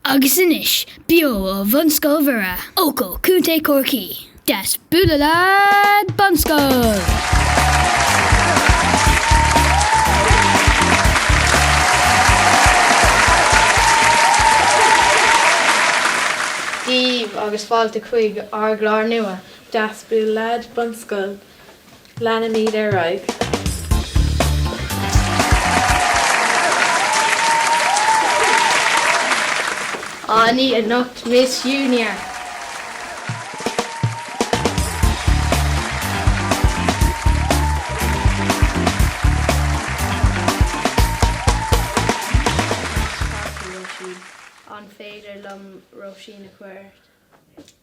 Agus anois, beo ó Bhunscoil Mhuire, Eochaill, Co. Chorcaí, Deas Bualadh Leat Bunscoil! Dia daoibh agus fáilte chuig ár gclár nua, Deas Bualadh Leat Bunscoil! Leanfaimid ar aghaidh. Ár n-aoi anocht Miss Uniacke. Ceart, a Róisín, An féidir liom Róisín a chur ort?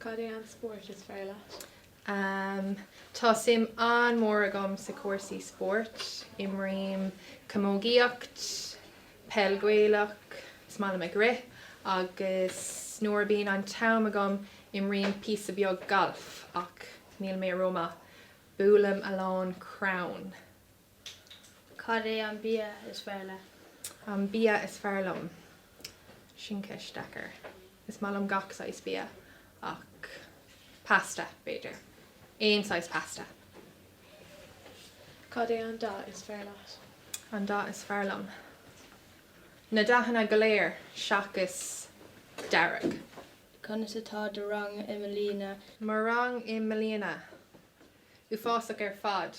Cad é an spórt is fearr leat? Am, Tá suim an-mhór agam sa cúrsaí spóirt. Imrím camógaíocht, peil Ghaelach, is maith liom ag rith agus nuair a bíonn an t-am agam imrím píosa beag gailf ach níl mé ró-maith. Buailim a lán crann. Cad é an bia is fearr leat? An bia is fearr liom? Sin ceist deacair. Is maith liom gach saghas bia ach pasta, b'fhéidir. Aon saghas pasta. Cad é an dath is fearr leat? An dath is fearr liom? Na dathanna go léir seachas dearg. Conas atá do rang i mbliana? Mo rang i mbliana? uafásach ar fad.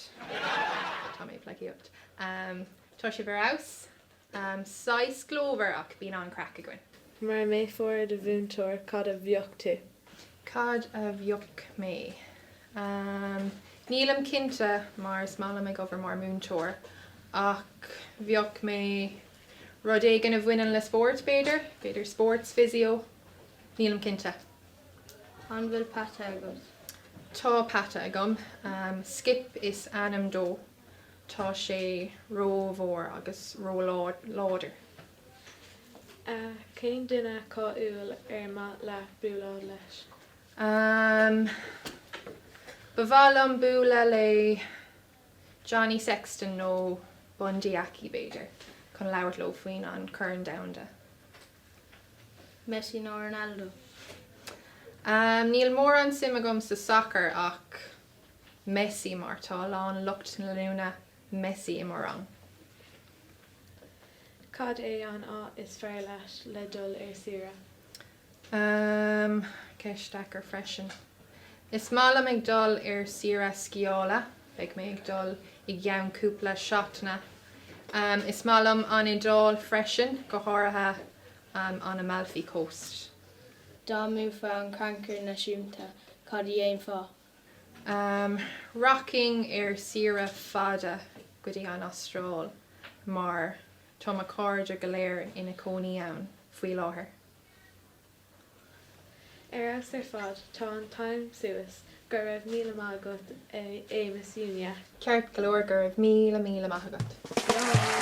Tá mé ag pleidhcíocht. Tá sibh ar fheabhas. Saghas glórmhar ach bíonn an-chraic againn. Mura mbeifeá ar do mhúinteoir, cad a bheadh tú? Cad a bheadh mé? Nílim cinnte mar is maith liom ag obair mar múinteoir ach bheadh mé rud éigin a bhaineann le spórt b'fhéidir? B'fhéidir sports physio? Nílim cinnte. An bhfuil peata agat? Tá peata agam. Skip is ainm dó. Tá sé rómhór agus róláidir. Cén duine cáiliúil ar maith leat bualadh leis? Ba mhaith liom bualadh le Johnny Sexton nó Bundee Aki, b'fhéidir, chun labhairt leo faoin an Corn Domhanda. Messi nó Ronaldo? Níl mórán suim agam sa sacar ach Messi mar tá a lán lucht leanúna Messi i mo rang. Cad é an áit is fearr leat le dul ar saoire? Ceist deacair freisin. Is maith liom ag dul ar saoire sciála Beidh mé ag dul i gceann cúpla seachtaine. Is maith liom an Iodáil freisin, go háirithe an Amalfi Coast. Dá mbuafá an Crannchur Naisiúnta, cad a dhéanfá? Rachainn ar saoire fada go dtí an Astráil mar tá mo chairde go léir ina cónaí ann faoi láthair. Ar fheabhas ar fad, tá an t-am suas, go raibh míle maith agat a Ms Uniacke. Ceart go leor, go raibh míle míle maith agat. Ciao!